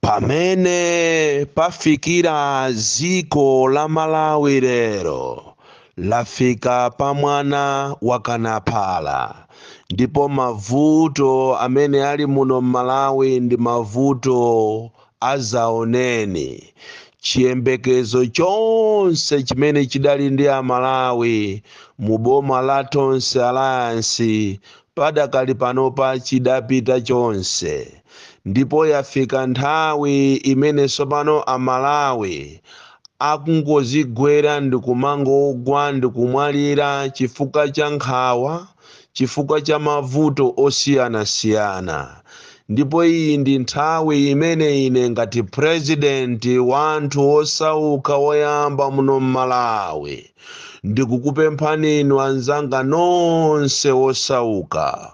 Pamene pafikira dziko la Malawi lero lafika pa mwana wakana phala ndipo mavuto amene ali muno m'Malawi ndi mavuto adzaoneni. Chiyembekezo chonse chimene chidali ndi Amalawi mu boma la Tonse Alliance Padakali panopa chidapita chonse ndipo yafika nthawi imene tsopano Amalawi akungozigwera ndi kumangogwa ndi kumwalira chifukwa cha nkhawa, chifukwa cha mavuto osiyanasiyana. Ndipo iyi ndi nthawi imene ine ngati Purezidenti wa anthu osauka woyamba muno m'Malawi, ndikukupemphani inu anzanga nonse wosauka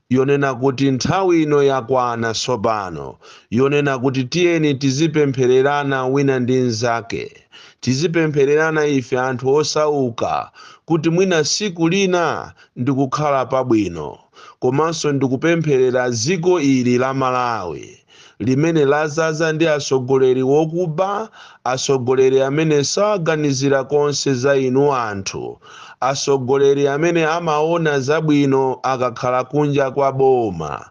yonena kuti nthawi ino yakwana tsopano yonena kuti tiyeni tizipemphererana wina ndi mnzake tizipemphererana ife anthu osauka kuti mwina siku lina ndikukhala pabwino komanso ndikupempherera dziko ili la Malawi limene lazaza ndi atsogoleri wokuba, atsogoleri amene saganizira konse za inu anthu, atsogoleri amene amaona zabwino akakhala kunja kwa boma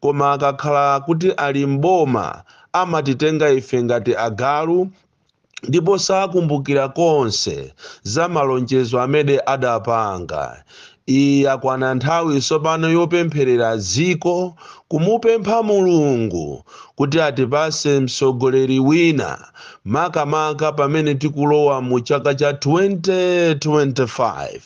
koma akakhala kuti ali m'boma amatitenga ife ngati agalu, ndipo sakumbukira konse za malonjezo amene adapanga. Iyi yakwana nthawi tsopano yopempherera dziko, kumupempha Mulungu kuti atipatse mtsogoleri wina, makamaka pamene tikulowa mu chaka cha 2025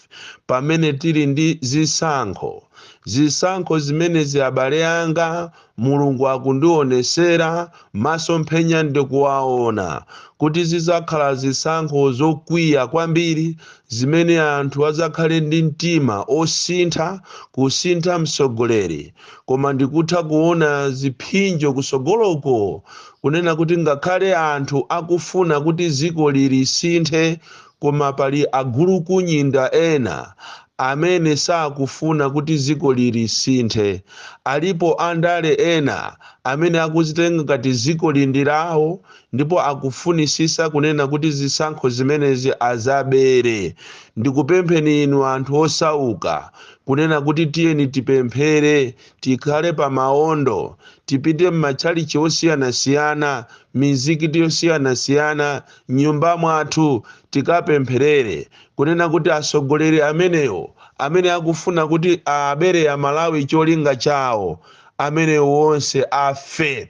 pamene tili ndi zisankho. Zisankho zimenezi abale anga, Mulungu akundionesera masomphenya ndikuwaona kuti zidzakhala zisankho zokwiya kwambiri zimene anthu adzakhale ndi mtima osintha kusintha mtsogoleri koma ndikutha kuona ziphinjo kutsogoloko kunena kuti ngakhale anthu akufuna kuti dzikoli lisinthe Koma pali agulukunyinda ena amene sakufuna kuti dzikoli lisinthe. Alipo andale ena amene akudzitenga ngati dzikoli ndi lawo ndipo akufunitsitsa kunena kuti zisankho zimenezi adzabere. Ndikupempheni inu anthu osauka kunena kuti tiyeni tipemphere, tikhale pa maondo, tipite m'matchalitchi osiyanasiyana, mizikiti yosiyanasiyana, m'nyumba mwathu tikapempherere kunena kuti atsogoleri amenewo amene akufuna kuti abere amalawi cholinga chawo amenewo wonse afe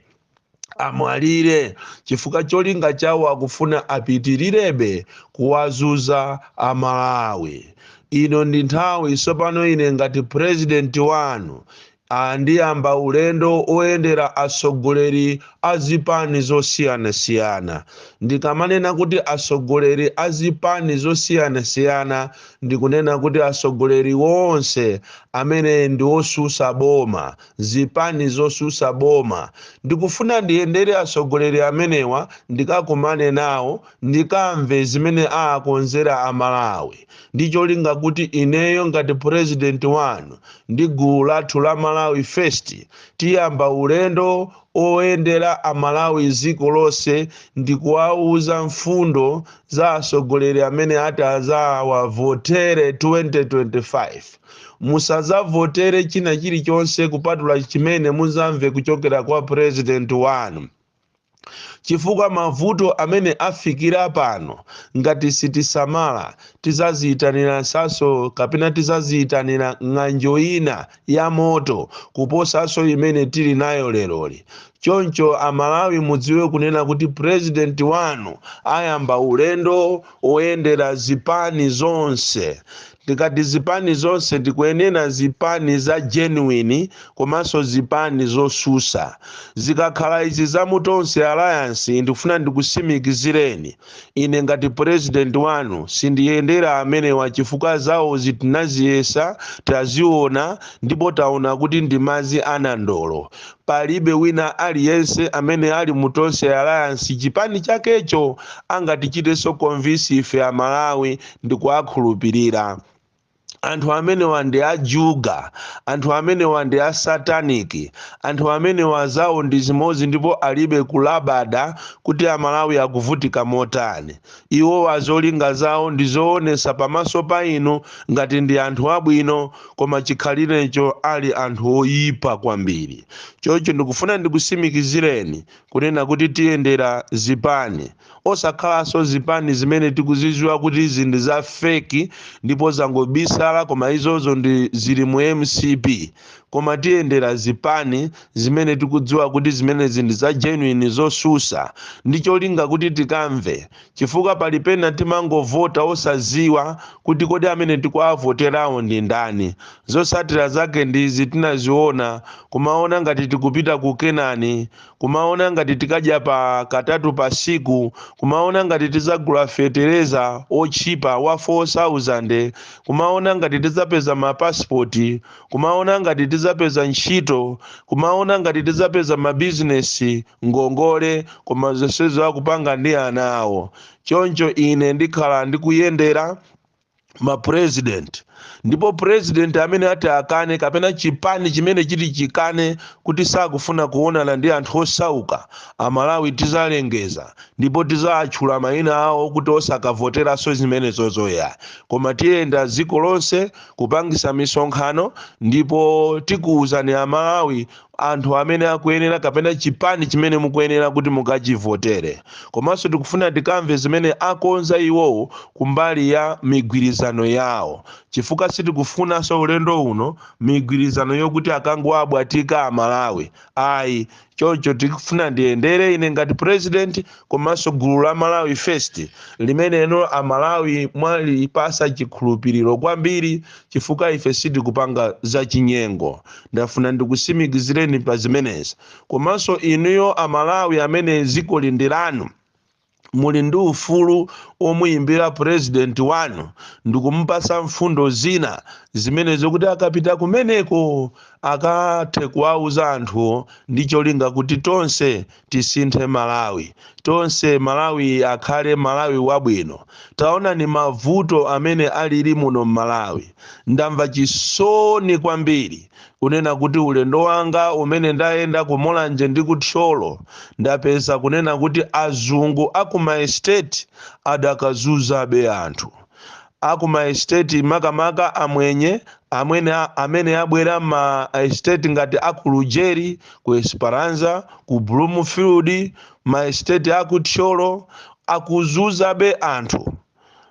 amwalire chifukwa cholinga chawo akufuna apitilirebe kuwazuza amalawi ino ndi nthawi tsopano ine ngati purezidenti wanu a Ndiyamba ulendo woyendera atsogoleri a zipani zosiyanasiyana. Ndikamanena kuti atsogoleri a zipani zosiyanasiyana ndikunena kuti atsogoleri onse amene ndi otsutsa boma, zipani zotsutsa boma. Ndikufuna ndiyendere atsogoleri amenewa, ndikakumane nawo, ndikamve zimene aakonzera Amalawi. ndi cholinga kuti ineyo ngati purezidenti wanu ndi gulu lathu la malawi first tiyamba ulendo oyendera amalawi dziko lonse ndi kuwauza mfundo za atsogoleri amene ati azawavotere 2025 musazavotere china chilichonse kupatula chimene muzamve kuchokera kwa purezidenti wanu chifukwa mavuto amene afikira pano ngati sitisamala tizaziyitanirasanso kapena tizaziyitanira ng'anjo ina ya moto kuposanso imene tili nayo leroli choncho amalawi mudziwe kunena kuti president wanu ayamba ulendo woyendera zipani zonse Tikati zipani zonse tikunena zipani za genuine komanso zipani zosusa. Zikakhala izi za mu Tonse alliance ndikufuna ndikusimikizireni ine ngati president wanu sindiyendera amenewa chifukwa zawozi tinaziyesa, taziona ndipo taona kuti ndi madzi a nandolo. Palibe wina aliyense amene ali mu Tonse alliance chipani chakecho angatichitenso convince ife a Malawi ndikuwakhulupirira. Anthu amenewa ndi a juga, anthu amenewa ndi a satanic, anthu amenewa zawo ndi zimodzi ndipo alibe kulabada kuti a Malawi akuvutika motani. Iwowa zolinga zawo ndi zoonetsa pamaso pa inu ngati ndi anthu abwino koma chikhalirecho ali anthu oipa kwambiri. Choncho ndikufuna ndikutsimikizireni kunena kuti tiyendera zipani osakhalanso zipani zimene tikuziziwa kuti izi ndi za feki ndipo zangobisala koma izozo ndi zili mu mcp koma tiyendera zipani zimene tikudziwa kuti zimenezi ndi za genuine zosusa ndi cholinga kuti tikamve chifukwa pali pena timangovota osaziwa kuti kodi amene tikuavoterawo ndi ndani zosatira zake ndizi tinaziona kumaona ngati tikupita ku kenani kumaona ngati tikadya katatu pa siku kumaona ngati tizagula fetereza otchipa wa 4000 kumaona ngati tizapeza ma passport kumaona ngati tidzapeza ntchito kumaona ngati tidzapeza mabizinesi ngongole koma zonsezo akupanga ndi ana awo choncho ine ndikhala ndikuyendera ma president ndipo president amene ati akane kapena chipani chimene chiti chikane kuti sakufuna kuonana ndi anthu osauka amalawi tizalengeza ndipo tizawatchula mayina awo kuti osakavoteranso zimenezozo ya koma tiyenda dziko lonse kupangisa misonkhano ndipo tikuwuzani amalawi anthu amene akuyenera kapena chipani chimene mukuyenera kuti mukachivotere komanso tikufuna tikamve zimene akonza iwowo kumbali ya migwirizano yawo chifukwa sitikufunanso ulendo uno migwirizano yokuti akangowabwatika amalawi ayi choncho tikufuna ndiyendere ine ngati president komanso gulu la malawi first limeneno amalawi mwalipasa chikhulupiriro kwambiri chifukwa ife sitikupanga zachinyengo ndafuna ndikusimikizireni pa zimenezi komanso inuyo amalawi amene dzikoli ndi lanu muli ndi ufulu omuyimbira president wanu ndikumupasa mfundo zina zimene zokuti akapita kumeneko akathe kuwauza anthuwo ndi cholinga kuti tonse tisinthe malawi tonse malawi akhale malawi wabwino taonani mavuto amene alili muno mmalawi ndamva chisoni kwambiri kunena kuti ulendo wanga umene ndayenda ku Mulanje ndi ku Thyolo ndapeza kunena kuti azungu a ku maesiteti adakazunzabe anthu a ku maesiteti makamaka amwenye amene abwera ma esiteti ngati a ku Lujeri, ku Esperanza, ku Bloomfield, maesiteti a ku Thyolo akuzunzabe anthu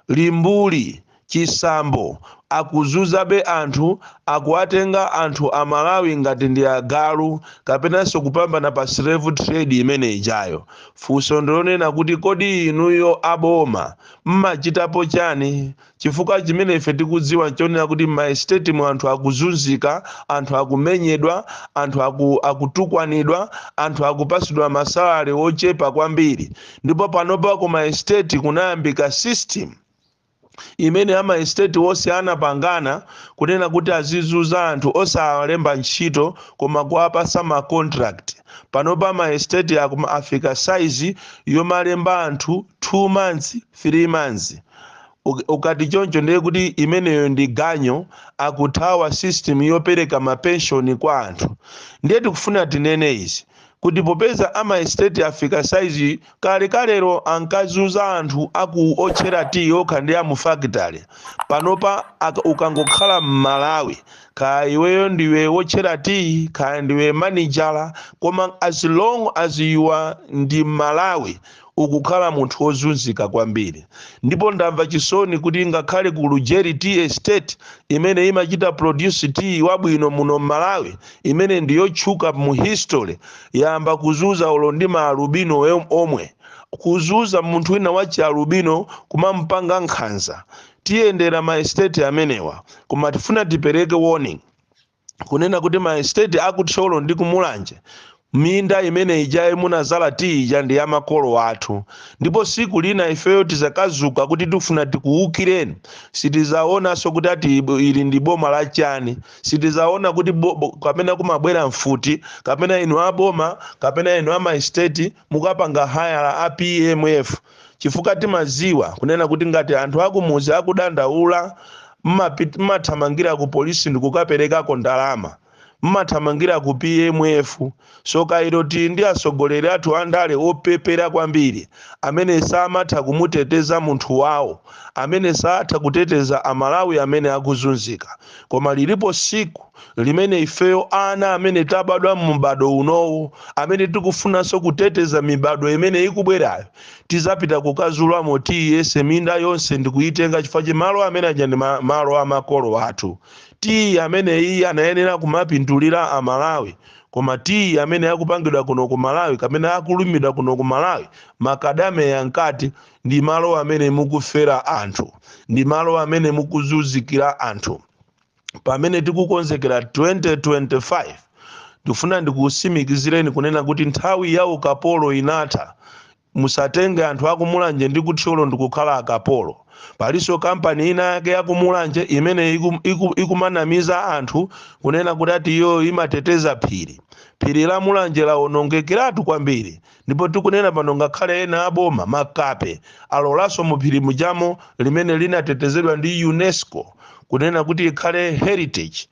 limbuli, chisambo, akuzunzabe anthu akuwatenga anthu amalawi ngati ndi agalu kapenanso kupambana pa slave trade imene ijayo. Funso ndilonena kuti kodi inuyo a boma mmachitapo chani chifukwa chimene ife tikudziwa nchonena kuti mma estate mu anthu akuzunzika, anthu akumenyedwa, anthu akutukwanidwa, anthu akupasidwa ma salary ochepa kwambiri. ndipo panopa ku maestate kunayambika system imene amaestate onse anapangana kunena kuti azizuza anthu osawalemba ntchito koma kuwapasa ma contract panopa maestate akumafika size yomalemba anthu 2 months 3 months Uk- ukati choncho ndiye kuti imeneyo ndi ganyu akuthawa system yopereka mapenshoni kwa anthu ndiye tikufuna tinene izi kuti popeza a maesiteti afika saiziyi, kalekalelo ankazuza anthu a ku otchera tiyi okha ndi a mufakitale. Panopa aka- ukangokhala m'Malawi, kaya iweyo ndiwe wotchera tiyi, kaya ndiwe manijala, koma as long as you are ndi m'Malawi, ukukhala munthu wozunzika kwambiri ndipo ndamva chisoni kuti ngakhale ku lujeri tea estate imene imachita produce tea wabwino muno m'malawi imene ndi yotchuka mu history yayamba kuzuza olo ndi maalubino em- omwe kuzuza munthu wina wa chialubino kumamupanga nkhanza tiyendera ma estate amenewa koma tifuna tipereke warning kunena kuti ma estate a ku thyolo ndi ku mulanje minda imene ija munazala tiyi ija ndi ya makolo athu ndipo siku lina ifeyo tizakadzuka kuti tifuna tikuwukireni sitizaonanso kuti ati ibo- ili ndi boma la chani sitizaona kuti bo- bo- kapena kumabwera mfuti kapena inu aboma kapena inu amaesteti mukapanga hayala a pmf chifukwa timadziwa kunena kuti ngati anthu akumudzi akudandaula mmathamangira ku polisi ndikukaperekako ndalama mmathamangira ku pmf so kairo tili ndi atsogoleri athu andale opepera kwambiri amene samatha kumuteteza munthu wawo amene satha kuteteza amalawi amene akuzunzika koma lilipo siku limene ifeyo ana amene tabadwa mu m'bado unowo amene tikufunanso kuteteza mibado imene ikubwerayo tizapita kukazulamo tiyi yense minda yonse ndikuyitenga chifukwa cha malo amene aja ndi ma- malo a makolo athu tiyi amene iyi anayenera kumapindulira amalawi koma tiyi amene akupangidwa kuno ku malawi kapena akulimidwa kuno ku malawi makademiya nkati ndi malo amene mukufera anthu ndi malo amene mukuzunzikira anthu pamene tikukonzekera 2025 ndifuna ndikusimikizireni kunena kuti nthawi ya ukapolo inatha musatenge anthu akumulanje ndi kuthyolo ndikukhala akapolo palinso kampani ina yake yakumulanje imene iku- iku- ikumanamiza anthu kunena kuti ati iyo imateteza phiri phiri la mulanje lawonongekeratu kwambiri Ndipo tikunena pano ngakhale ena a boma, makape, alolanso mu phiri mujamo limene linatetezedwa ndi Unesco kunena kuti ikhale heritage,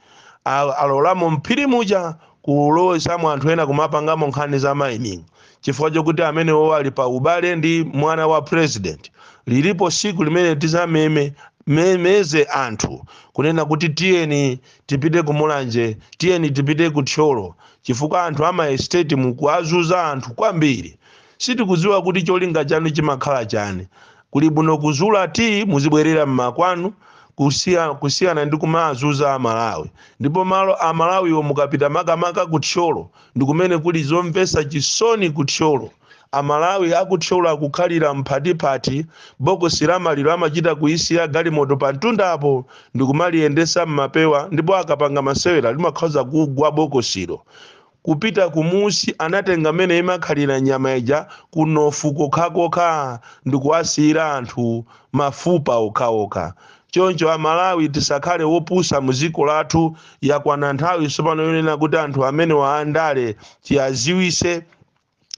a, alolamo m'phiri muja kulowetsamo anthu ena kumapangamo nkhani za mining chifukwa chokuti amenewo ali pa ubale ndi mwana wa president. Lilipo tsiku limene tizameme, memeze anthu kunena kuti tiyeni Tipite ku Mulanje, tiyeni tipite ku Thyolo chifukwa anthu a ma estate mukuazuza anthu kwambiri. Sitikuziwa kuti cholinga chanu chimakhala chani. Kuli bwino kuzula tea muzibwerera mmakwanu kusiyana ndi kumaazuza a Malawi. Ndipo malo a Malawiwo mukapita makamaka ku Thyolo ndikumene kuli zomvesa chisoni ku Thyolo. Amalawi a ku Thyolo akukhalira m'phatiphati, bokosi la maliro amachita kuisiya galimoto pamtundapo ndi kumaliyendetsa m'mapewa ndipo akapanga masewera limakhoza kugwa bokosilo. Kupita kumunsi anatenga mmene imakhalira nyama ija kunofu kokhakokha ndi kuwasiyira anthu mafupa okhaokha. Choncho Amalawi tisakhale opusa mu dziko lathu, yakwana nthawi tsopano yonena kuti anthu amenewa andale tizawaziwise.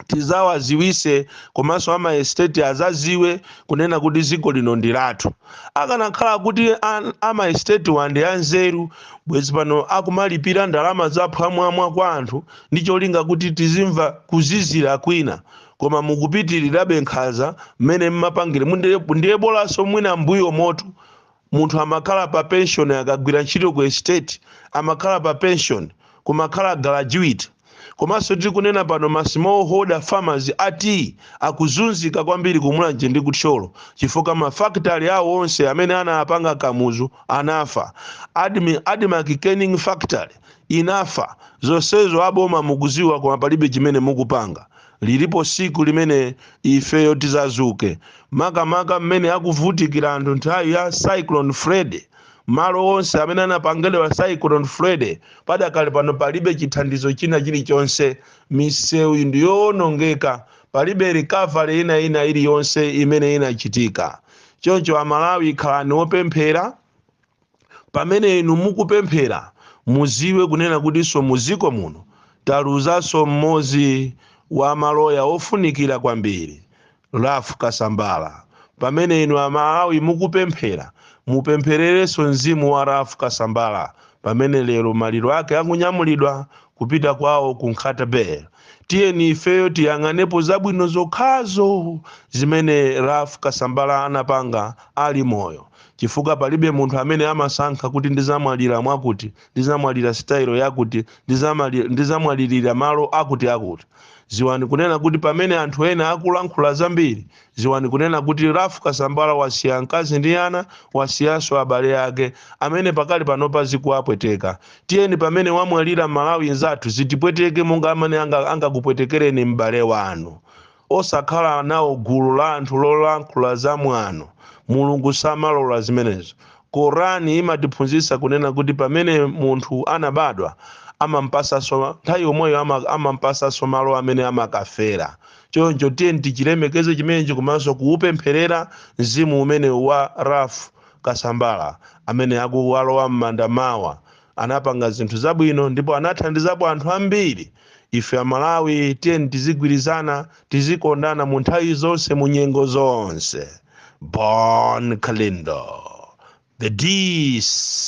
tizawaziwise komanso ama estate azaziwe kunena kuti ziko lino ndi lathu akanakhala kuti an- ama estatewa ndi anzeru bwezi pano akumalipira ndalama za phwamwamwa kwa anthu ndi cholinga kuti tizimva kuzizira kwina koma mukupitirirabe nkhaza mmene mmapangire mu- ndiye bolanso mwina mbuyomotu munthu amakhala pa pension akagwira ntchito ku estate amakhala pa pension kumakhala gratuity komanso tikunena pano ma small holder farmers a tea akuzunzika kwambiri ku mulanje ndi ku thyolo chifukwa mafakitale awo onse amene anapanga kamuzu anafa admarc canning factory inafa zonsezo aboma mukuziwa koma palibe chimene mukupanga Lilipo tsiku limene ifeyo tizazuke makamaka mmene akuvutikira anthu nthawi ya Cyclone Freddy. Malo onse amene anapangedwa Cyclone Freddy padakali pano palibe chithandizo china chilichonse. Misewu ndi yoonongeka, palibe recovery ina ina iliyonse imene inachitika. Choncho Amalawi khalani opemphera. pamene inu mukupemphera muziwe kunena kutinso muziko muno taluzanso mmozi wa maloya ofunikira kwambiri Ralph Kasambala pamene inu amalawi mukupemphera mupemphererenso mzimu wa Ralph Kasambala pamene lero maliro ake akunyamulidwa kupita kwawo ku Nkhata Bay. Tiyeni ifeyo tiyang'anepo zabwino zokhazo zimene Ralph Kasambala anapanga ali moyo chifukwa palibe munthu amene amasankha kuti ndizamwalira mwakuti, ndizamwalira sitayilo yakuti, ndizamali, ndizamwalirira malo akutiakuti. Dziwani kunena kuti pamene anthu ena akulankhula zambiri, Dziwani kunena kuti Ralph Kasambala wasiya mkazi ndi ana, wasiyanso abale ake amene pakali panopa zikuwapweteka. Tiyeni pamene wamwalira Malawi mnzathu zitipweteke monga mmene angakupwetekereni m'bale wanu. Osakhala nawo gulu la anthu lolankhula za mwano. Mulungu samalola zimenezo. Koran imatiphunzitsa kunena kuti pamene munthu anabadwa, amampasanso nthawi yomweyo ama amampasanso malo amene amakafera. choncho tiyeni tichilemekeze chimenechi komanso kuupempherera mzimu umenewu wa Ralph Kasambala amene akulowa m'manda mawa anapanga zinthu zabwino ndipo anathandizapo anthu ambiri ife amalawi tiyeni tizigwirizana tizikondana mu nthawi zonse mu nyengo zonse bon kalindo the dc